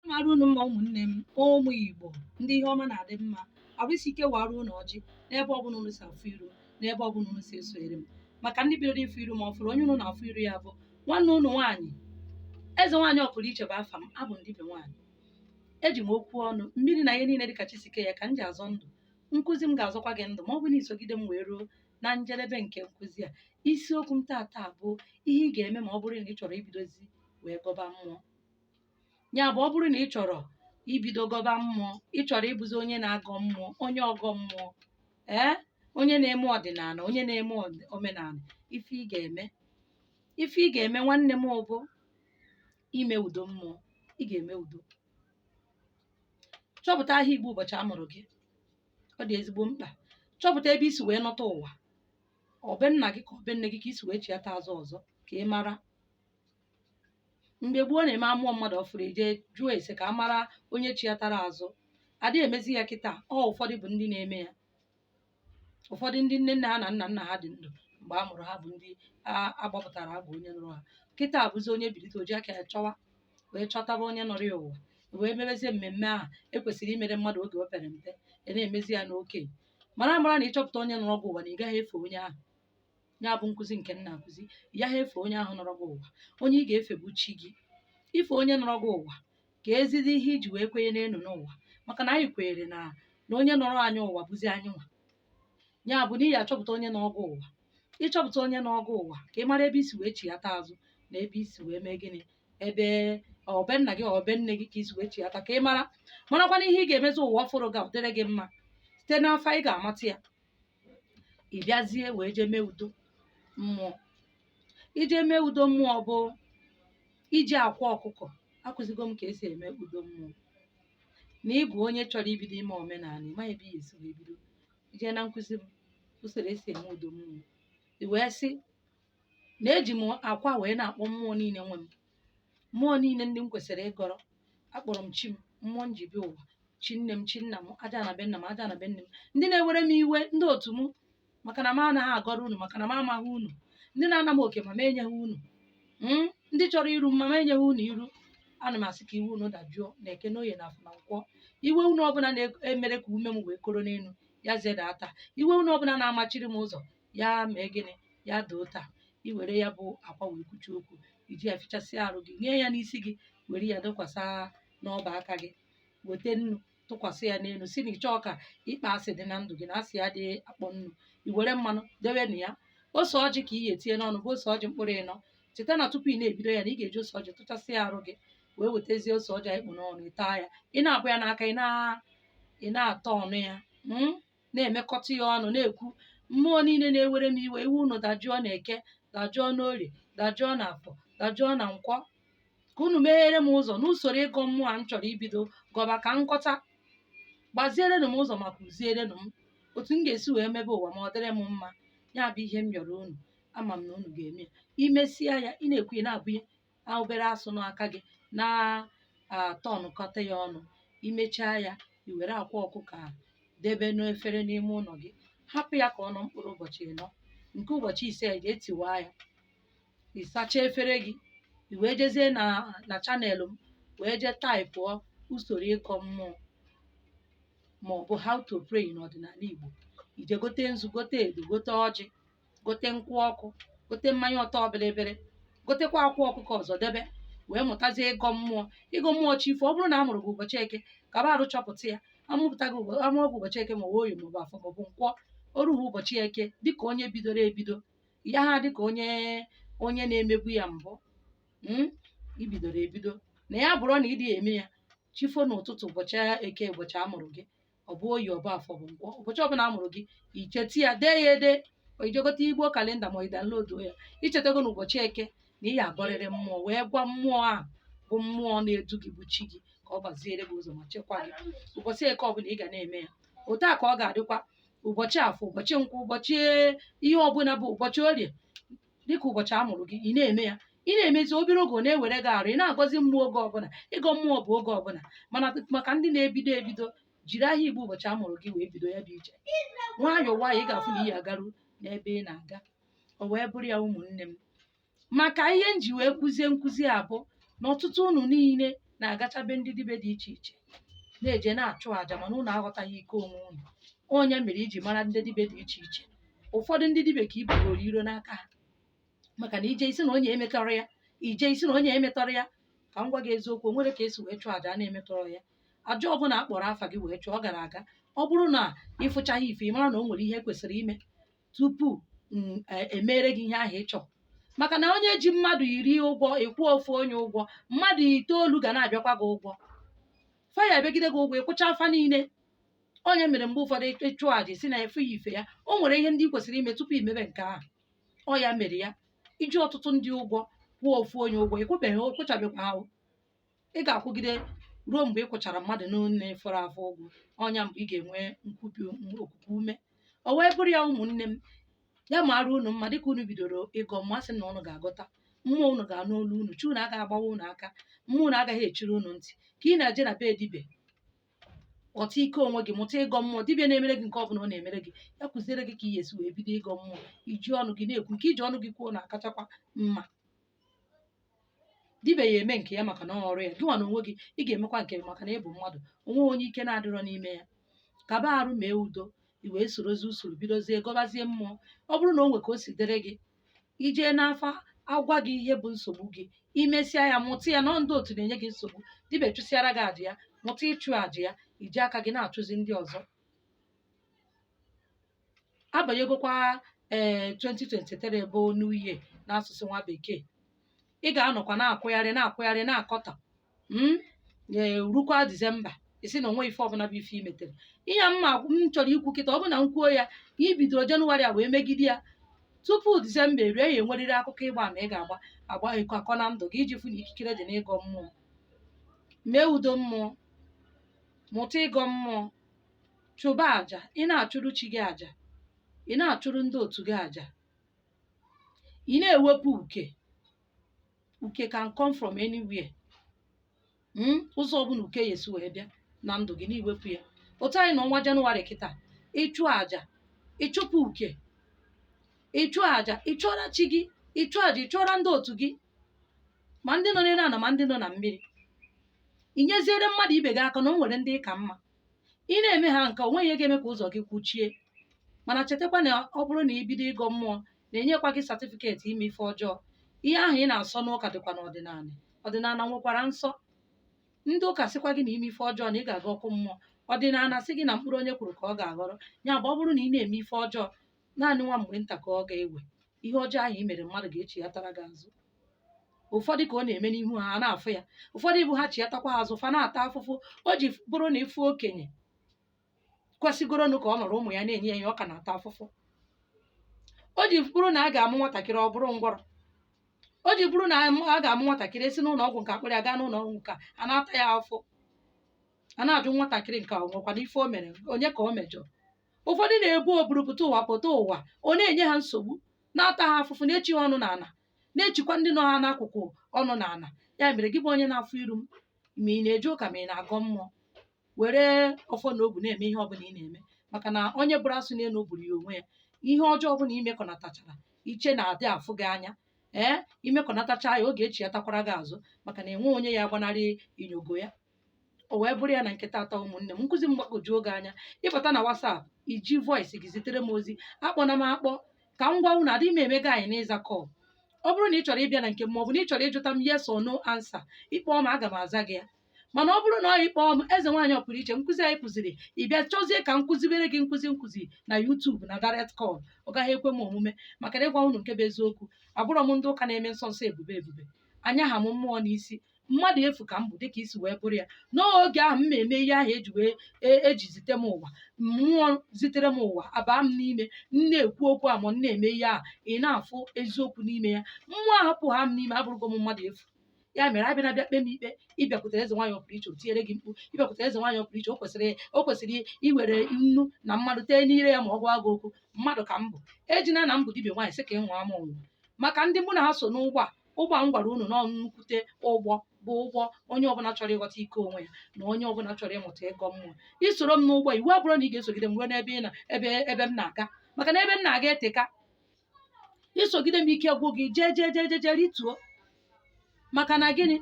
mara unu mma ụmụnne m ụmụ igbo ndị ihe ọma na-adị mma arụ isi ike wara unu ọjị n'ebe ọbụla unu si afụ iru n'ebe ọbụla unu si esonyere m maka ndị bidoro ịfụ iru m ọfụrụ onye unu na-afụ iru ya bụ nwanne unu nwaanyị eze nwaanyị ọpụrụiche bụ afa m abụ m dibịa nwaanyị eji m okwu ọnụ mmiri na ihe niile dịka chi si kee ya ka m ji azọ ndụ nkụzi m ga-azọkwa gị ndụ ma ọ bụ na i sogide m wee ruo na njedebe nke nkụzi a isiokwu m taata bụ ihe ị ga-eme ma ọ bụrụ na ị chọrọ ibidozi wee gọba mmụọ ya bụ ọ bụrụ na ị chọrọ ibido gọba mmụọ ị chọrọ ịbụzi onye na-agọ mmụọ onye ọgọ mmụọ ee onye na-eme ọdịnala onye na-eme ọd- omenala ife ị ga-eme ife ị ga-eme nwanne m bụ ime udo mmụọ ị ga-eme udo chọpụta aha igbo ụbọchị a mụrụ gị ọ dị ezigbo mkpa chọpụta ebe i si wee nọta ụwa ọ be nna gị ka ọ be nne gị ka i si wee chiata azụ ọzọ ka ị mara mgbe gboo na-eme a mụọ mmadụ ọfụrụ e je jụọ ese ka a mara onye chiatara azụ ada emezi ya kịta ọ ụfọdụ bụ ndị na-eme ya ụfọdụ ndị nne nna ha na nna nna ha dị ndụ mgbe a mụrụ ha bụ ndị a- agbapụtara agụ onye nọrọ ha kịta bụzi onye bilite o ji aka ya chọwa wee chọtaba onye nọrọ ya ụwa wee mebezie mmemme ahụ e kwesịrị imere mmadụ oge o pere mpe a na-emezi ya n'okenye mara mara na ịchọpụta onye nọrọ gị ụwa na ị gaghị efe onye ahụ ya bụ nkụzi nke m na-akụzi ị yaha efe onye ahụ nọrọ gị ụwa onye ị ga-efe bụ chi gị i fe onye nọrọ gị ụwa kezidi ihe i ji wee kwenye n'ịnọ ụwa maka na anyị kwenyere na na onye nọrọ anyị ụwa bụzi anyị nwa ya bụ na ị ya-achọpụta onye nọrọ gị ụwa ị chọpụta onye nọrọ gị ụwa ka ị mara ebe i si wee chighata azụ na ebe i si wee mee gịnị ebe ọ be nna gị ọ be nne gị ka i si wee chighata ka ị mara marakwana ihe ị ga-emezi ụwa ọfụrụ gị a ọ dịrị gị mma site n'afa ị ga-amata ya ị bịazie wee jee mee udo mmụọ ije mee udo mmụọ bụ iji akwa ọkụkọ akụzigo m ka esi eme udo mmụọ na ị bụ onye chọrọ ibido ime omenala ị maghị ebe ị ya-esi wee bido i je na nkụzi m usoro esi eme udo mmụọ i wee sị na eji m akwa wee na-akpọ mmụọ niile nwe m mmụọ niile ndị m kwesịrị ịgọrọ akpọrọ m chi m mmụọ m ji bịa ụwa chi nne m chi nna m ajana be nna m ajana be nne m ndị na-ewere m iwe ndị otu m maka na m anaghị agọrọ unu maka na m amaghị unu ndị na-ana m oke ma m enyeghị unu Mm, ndị chọrọ iru m ma m enyeghị unu iru ana m asị ka iwe unu dajụọ na eke na oye na afọ na nkwọ iwe unu ọbụla na-emere ka ume m wee koro n'elu ya zedata iwe unu ọbụla na-amachiri m ụzọ ya mee gịnị ya doo taa i were ya bụ akwa wee kwuchaa okwu i ji ya fichasịa arụ gị nye ya n'isi gị were ya dọkwasa n'ọba aka gị weta nnu tụkwasị ya n'elu si na ị chọọ ka ịkpọ asị dị na ndụ gị na asị adị akpọ nnu i were mmanụ debe na ya ose ọjị ka ị ga-etinye n'ọnụ bụ ose ọjị mkpụrụ ịnọ cheta na tupu ị na-ebido ya na ị ga-eji ose ọjị tụchasị ya arụ gị wee wetazie ose ọjị ị kpụ n'ọnụ ị taa ya ị na-abụ ya n'aka ị na- ị na-atọ ọnụ ya mm? na-emekọta ya ọnụ na-ekwu mmụọ niile na-ewere m iwe iwe unu dajụọ na eke dajụọ n'orie dajụọ na afọ dajụọ na nkwọ ka unu meghere m ụzọ n'usoro ịgọ mmụọ a m chọrọ ibido gọba ka nkọta gbazierenụ m ụzọ ma kụzierenụ m otu m ga-esi wee mebe ụwa ma ọ dịrị m mma ya bụ ihe m yọrọ unu ama m na unu ga-eme ya i mesịa ya ị na-ekwu ya na-abụnye a obere asụ n'aka gị na-atọnụkọta ya ọnụ i mechaa ya i were akwa ọkụkọ a debe n'efere n'ime ụlọ gị hapụ ya ka ọ nọ mkpụrụ ụbọchị ịnọ nke ụbọchị ise i jee tiwaa ya ị sachaa efere gị i wee jezie na channel m wee jee taịpụọ usoro ịgọ mmụọ ma ọ bụ how to pray n'ọdịnala Igbo i jee gote nzu gote edo gote ọjị gote nkwụ ọkụ gote mmanya ọtọ bịrịbịrị gotekwa akwa ọkụkọ ọzọ debe wee mụtazie ịgọ mmụọ ịgọ mmụọ chi fo ọ bụrụ na a mụrụ gị ụbọchị eke ka ba arụ chọpụta ya amụpụta gị ụbọ- amụọ gị ụbọchị eke ma ọ bụ oye maọbụ afọ maọbụ nkwọ o ruo ụbọchị eke dịka onye bidoro ebido ya ha dịka onye na-emebu ya mbụ mm, i bidoro ebido na ya bụrụ na ị dị eme ya chi fo n'ụtụtụ ụbọchị eke ụbọchị a mụrụ gị ọ bụ oye ọ bụ afọ ọ bụ nkwọ ụbọchị ọbụla a mụrụ gị i cheta ya dee ya ede ma i jee gote igbo kalenda ma ị downloaduo ya i chetago na ụbọchị eke na ị ya-agọrịrị mmụọ wee gwa mmụọ ahụ bụ mmụọ na-edu gị bụ chi gị ka ọ gbaziere gị ụzọ ma chekwaa gị ụbọchị eke ọbụla ị ga na-eme ya otu a ka ọ ga-adịkwa ụbọchị afọ ụbọchị nkwọ ụbọchị ihe ọbụla bụ ụbọchị orie dịka ụbọchị a mụrụ gị ị na-eme ya ị na-emezi obere oge ọ na-ewere gị arụ ị na-agọzi mmụọ oge ọbụla ịgọ mmụọ bụ oge ọbụla mana maka ndị na-ebido ebido jiri ahịa igbo ụbọchị a mụrụ gị wee bido ya bụ ije nwayọọ nwayọọ ị ga-afụ na ị ya-agaru n'ebe ị na-aga o wee bụrụ ya ụmụnne m maka ihe m ji wee kụzie nkụzi a bụ na ọtụtụ unu niile na-agacha be ndị dibe dị iche iche na-eje na-achụ àjà mana unu aghọtaghị ike onwe unu ọ nya mere i ji mara ndị dibe dị iche iche ụfọdụ ndị dibe ka i bugoro iro n'aka ha maka na i jee i sị na onye emetọrọ ya i jee i sị na onye emetọrọ ya ka m gwa gị eziokwu o nwere ka e si wee chụọ àjà a na-emetọrọ ya àjà ọbụla a kpọrọ afa gị wee chụọ ọ gara aga ọ bụrụ na ị fụchaghị ife ị mara na o nwere ihe kwesịrị ime tupu m e- emere gị ihe ahụ ị chọrọ maka na onye ji mmadụ iri ụgwọ ị kwụọ ofu onye ụgwọ mmadụ itoolu ga na-abịakwa gị ụgwọ fa ya-abịagide gị ụgwọ ị kwụchaa fa niile ọ nya mere mgbe ụfọdụ ịchụ aja si na efu ya ife ya o nwere ihe ndị ị kwesịrị ime tupu i mebe nke ahụ ọ ya mere ya i ji ọtụtụ ndị ụgwọ kwụọ ofu onye ụgwọ ị kwụbeghị ị kwụchabekwa ha ị ga-akwụgide ruo mgbe ị kwụchara mmadụ niile fọrọ afọ ụgwọ ọ nya mgbe ị ga-enwe okuku ume o wee bụrụ ya ụmụnne m ya maara unu mma dịka unu bidoro ịgọ mmụọ sị na unu ga-agọta mmụọ unu ga-anụ olu unu chi unu agaghị agbawa unu aka mmụọ unu agaghị echiri unu ntị ka ị na-eje na be dibịa ghọta ike onwe gị mụta ịgọ mmụọ dibịa na-emere gị nke ọ bụla ọ na-emere gị ya kụziere gị ka ị ga-esi wee bido ịgọ mmụọ iji ọnụ gị na-ekwu nke i ji ọnụ gị kwuo na-akachakwa mma dibịa ya-eme nke ya maka na ọ ọrụ ya gịnwa n'onwe gị ị ga-emekwa nke maka na ị bụ mmadụ o nwe onye ike na-adịrọ n'ime ya kaba arụ mee udo i wee sorozie usoro bidozie gọbazie mmụọ ọ bụrụ na o nwe ka o si dịrị gị i jee n'afa a gwa gị ihe bụ nsogbu gị i mesịa ya mụta ya na ndị otu na-enye gị nsogbu dibịa chụsịara gị aja ya mụta ịchụ aja ya iji aka gị na-achụzi ndị ọzọ a banyegokwa ee 2023 bụ new year n'asụsụ nwa bekee ị ga-anọkwa na-akwụgharị na-akwụgharị na-akọtọ mm, ee, rukwa disemba ị sị na o nwe ife ọbụla bụ ife i metere ihe a m chọrọ ikwu kịta ọ bụ na m kwuo ya ka i bidoro jenụwarị a wee megide ya tupu disemba erue ya enwerịrị akụkọ ịgba ama ị ga-agba agba ịkọ akọ na ndụ gị iji fụ na ikikere dị n'ịgọ mmụọ mee udo mmụọ mụta ịgọ mmụọ chụba aja ị na-achụrụ chi gị aja ị na-achụrụ ndị otu gị aja ị na-ewepụ uke uke can come from anywhere Mm, ụzọ ọbụla uke ya-esi wee bịa na ndụ gị na-ewepụ ya otu anyị nọ n'ọnwa janụwarị kịta ị chụọ aja ị chụpụ uke ị chụọ aja ị chụọra chi gị ị chụọ aja ị chụọra ndị otu gị ma ndị nọ n'elu ala ma ndị nọ na mmiri i nyeziere mmadụ ibe gị aka na o nwere ndị ị ka mma ị na-eme ha nke a o nweghị ihe ga-eme ka ụzọ gị kwuchie mana chetakwa na ọ bụrụ na i bido ịgọ mmụọ na-enyekwa gị satifiketi ime ife ọjọọ ihe ahụ ị na-asọ n'ụka dịkwa n'ọdịnala ọdịnala nwekwara nsọ ndị ụka sịkwa gị na i mee ife ọjọọ na ị ga-aga ọkụ mmụọ ọdịnala sị gị na mkpụrụ onye kụrụ ka ọ ga-aghọrọ ya bụ ọ bụrụ na ị na-eme ife ọjọọ naanị nwa mgbe nta ka ọ ga-ewe ihe ọjọọ ahụ i mere mmadụ ga-echighatara gị azụ ụfọdụ ka ọ na-eme n'ihu ha a na-afụ ya ụfọdụ bụ ha chiatakwa ha azụ fa na-ata afụfụ o ji bụrụ na ị fụ okenye kwesịgoronụ ka ọ nọrọ ụmụ ya na-enye ya ihe ọ ka na-ata afụfụ o ji bụrụ na a ga-amụ nwatakịrị ọ bụrụ ngwọrọ o ji bụrụ na amụ- a ga-amụ nwatakịrị e si n'ụlọ ọgwụ nke a kpụrụ ya gaa n'ụlọ ọgwụ nke a, a na-ata ya afọ a na-ajụ nwatakịrị nke a o nwekwanụ ife o mere onye ka o mejọrọ ụfọdụ na-ebu o buru pụta ụwa pụta ụwa ọ na-enye ha nsogbu na-ata ha afụfụ na-echi ha ọnụ n'ala na-echikwa ndị nọ ha n'akụkụ ọnụ n'ala ya mere gị bụ onye na-afụ iru m ma ị na-eje ụka ma ị na-agọ mmụọ were ọfọ na ogu na-eme ihe ọbụla ị na-eme maka na onye bụrụ asụ n'elu bụrụ ya onwe ya ihe ọjọọ ọbụla imekọnatachara iche na adị afụ gị anya ee imekọnatacha ya ọ ga-echighatakwara gị azụ maka na enwe onye ya agbanarị inyogo ya o wee bụrụ ya na nke tata ụmụnne m nkụzi m gbagwojuo gị anya ịbata na WhatsApp iji voice gị zitere m ozi akpọna m akpọ ka m gwa unu adịghị m emega anyị n'ịza call ọ bụrụ na ị chọrọ ịbịa na nke m ma ọ bụ na ị chọrọ ịjụta m yes or no answer ịkpọọ m aga m aza gị ya mana ọ bụrụ na ọ ịkpọọ m eze nwaanyị ọpụrụ iche nkụzi anyị kụziri ị bịa chọzie ka m kụzibere gị nkụzi nkụzi na YouTube na direct call ọ gaghị ekwe m omume maka na ịgwa unu nke bụ eziokwu abụrọ m ndị ụka na-eme nsọ nsọ ebube ebube anyaha m mmụọ n'isi mmadụ efu ka m bụ dịka i si wee bụrụ ya n'oge ahụ m na-eme ihe ahụ eji wee e- eji zite m ụwa mmụọ zitere m ụwa abaa m n'ime m na-ekwu okwu a ma m na-eme ihe ahụ ị na-afụ eziokwu n'ime ya mmụọ ahapụ ha m n'ime abụrụgo m mmadụ efu ya mere abịana abịa kpe m ikpe ịbịakwutere eze nwaanyị ọpụrụ iche o tinyere gị mkpu ịbịakwutere eze nwaanyị ọpụrụ iche o kwesịrị o kwesịrị iwere nnu na mmanụ tee n'ire ya ma ọ gwa gị okwu mmadụ ka m bụ ejina na m bụ dibịa nwaanyị sị ka ị nwụọ m ọnwụ maka ndị mụ na ha so n'ụgbọ a ụgbọ a m gwara unu na ọ nnukwute ụgbọ bụ ụgbọ onye ọbụla chọrọ ịghọta ike onwe ya na onye ọbụla chọrọ ịmụta ịgọ mmụọ isoro m n'ụgbọ iwu abụrọ na ị ga-esogide m ruo n'ebe ị na ebe ebe m na-aga maka na ebe m na-aga eteka isogide m ike gwụ gị jee jee jee jee jee rituo maka na gịnị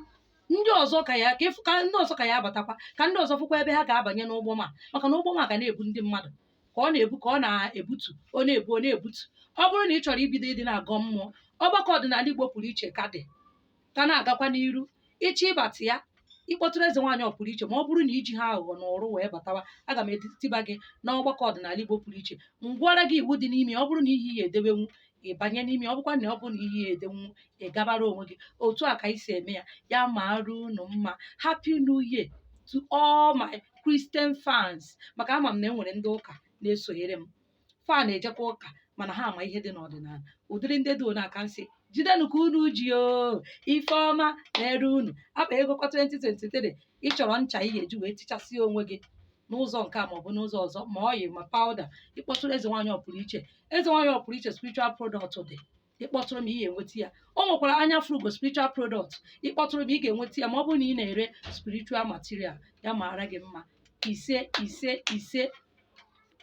ndị ọzọ ka ya ka ịfụ- ka ndị ọzọ ka ya abatakwa ka ndị ọzọ fụkwa ebe ha ga-abanye n'ụgbọ m a maka na ụgbọ m a ga na-ebu ndị mmadụ ka ọ na-ebu ka ọ na-ebutu ọ na-ebu ọ na-ebutu ọ bụrụ na ị chọrọ ibido ịdị na-agọ mmụọ ọgbakọ ọdịnala Igbo pụrụ iche ka dị ka na-agakwa n'iru ịchọ ịbata ya ịkpọtụrụ eze nwaanyị ọpụrụ iche ma ọ bụrụ na ijiha aghụghọ na ụrụ wee batawa aga m etiba gị n'ọgbakọ ọdịnala Igbo pụrụ iche m gwara gị iwu dị n'ime ya ọ bụrụ na ihe ị ya-edebenwu ịbanye n'ime ọ bụkwa na ọ bụ na ị ya-edenwu ị gabara onwe gị otu a ka anyị si eme ya ya mara unu mma happy new year to all my christian fans maka ama m na enwere ndị ụka na-esonyere m fa na-ejekwa ụka mana ha ama ihe dị n'ọdịnala ụdịrị ndị dị ọna ka m sị jidenụ ka unu ji o ife ọma na-ere unu akpa ego kwa 2023 ị chọrọ ncha ị ga-eji wee tichasị onwe gị n'ụzọ nke a maọbụ n'ụzọ ọzọ ma oil ma powder ịkpọtụrụ eze nwaanyị ọpụrụ iche eze nwaanyị ọpụrụ iche spiritual product dị ịkpọtụrụ m ị ga-enweta ya o nwekwara anya fụrụ ugo spiritual product ịkpọtụrụ m ị ga-enweta ya ma ọ bụrụ na ị na-ere spiritual material ya maara gị mma ise ise ise